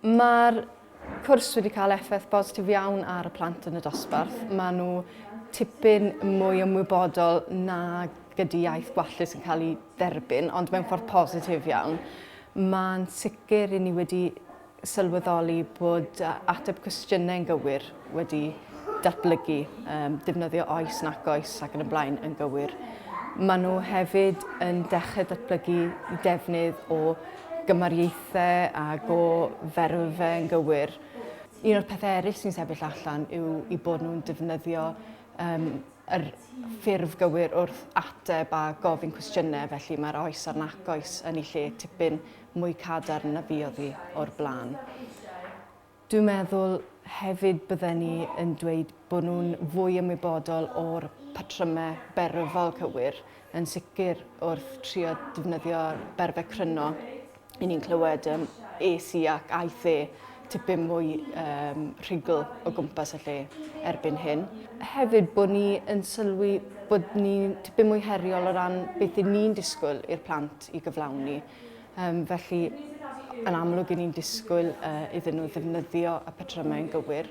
Mae'r cwrs wedi cael effaith bositif iawn ar y plant yn y dosbarth. Mae nhw tipyn mwy ymwybodol na gyda iaith gwallus yn cael ei dderbyn, ond mewn ffordd positif iawn. Mae'n sicr i ni wedi sylweddoli bod ateb cwestiynau yn gywir wedi datblygu, um, defnyddio oes, nac oes ac yn y blaen yn gywir. Maen nhw hefyd yn dechrau datblygu defnydd o gymariaethau a go ferfau yn gywir. Un o'r pethau eraill sy'n sefyll allan yw i bod nhw'n defnyddio um, yr ffurf gywir wrth ateb a gofyn cwestiynau, felly mae'r oes a'r nac oes yn ei lle tipyn mwy cadarn na fi oddi o'r blaen. Dwi'n meddwl hefyd bydden ni yn dweud bod nhw'n fwy ymwybodol o'r patrymau berfol cywir, yn sicr wrth trio defnyddio berfau cryno i ni'n clywed um, es i ac aeth e tipyn mwy um, rhugl o gwmpas y lle erbyn hyn. Hefyd bod ni yn sylwi bod ni tipyn mwy heriol o ran beth ni'n disgwyl i'r plant i gyflawni. Yym, felly, yn amlwg i ni'n disgwyl uh, iddyn nhw ddefnyddio y patrymau yn gywir,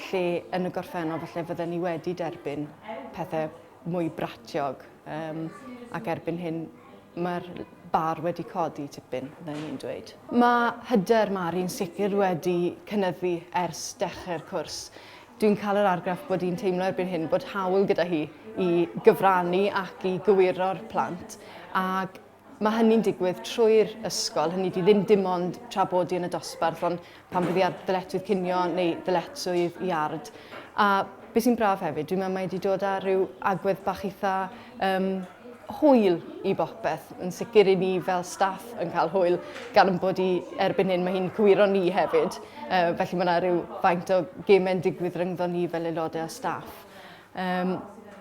lle yn y gorffennol falle fydden ni wedi derbyn pethau mwy bratiog, um, ac erbyn hyn mae'r bar wedi codi tipyn, byddai'n ni'n dweud. Mae hyder Mari'n sicr wedi cynyddu ers dechrau'r cwrs. Dwi'n cael yr argraff bod hi'n teimlo erbyn hyn bod hawl gyda hi i gyfrannu ac i gywiro'r plant, ac Mae hynny'n digwydd trwy'r ysgol, hynny ydi ddim dim ond tra bod i yn y dosbarth, ond pan fydd i ar ddyletswydd cinio neu ddyletswydd i ard. A beth sy'n braf hefyd, dwi'n meddwl mae wedi dod â rhyw agwedd bach eitha um, hwyl i bopeth. Yn sicr i ni fel staff yn cael hwyl gan yn bod i erbyn hyn mae hi'n cywiro ni hefyd. Uh, felly mae yna rhyw faint o gemau'n digwydd rhyngddo ni fel aelodau o staff. Yym,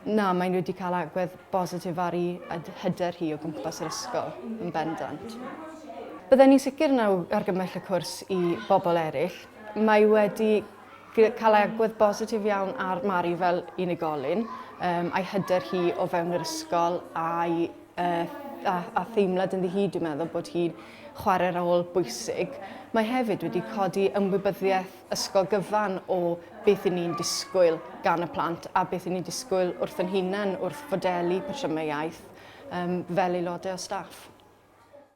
na, maen nhw wedi cael agwedd bositif ar i hyder hi o gwmpas yr ysgol, yn bendant. Bydden ni'n sicr na argymell y cwrs i bobl eraill. Mae wedi cael agwedd bositif iawn ar Mari fel unigolyn, um, a'i hyder hi o fewn yr ysgol a'i uh, a, a theimlad yn hi, dwi'n meddwl bod hi'n chwarae rôl bwysig. Mae hefyd wedi codi ymwybyddiaeth ysgol gyfan o beth i ni'n disgwyl gan y plant a beth i ni'n disgwyl wrth yn hunain wrth fodelu patrymau iaith um, fel aelodau o staff.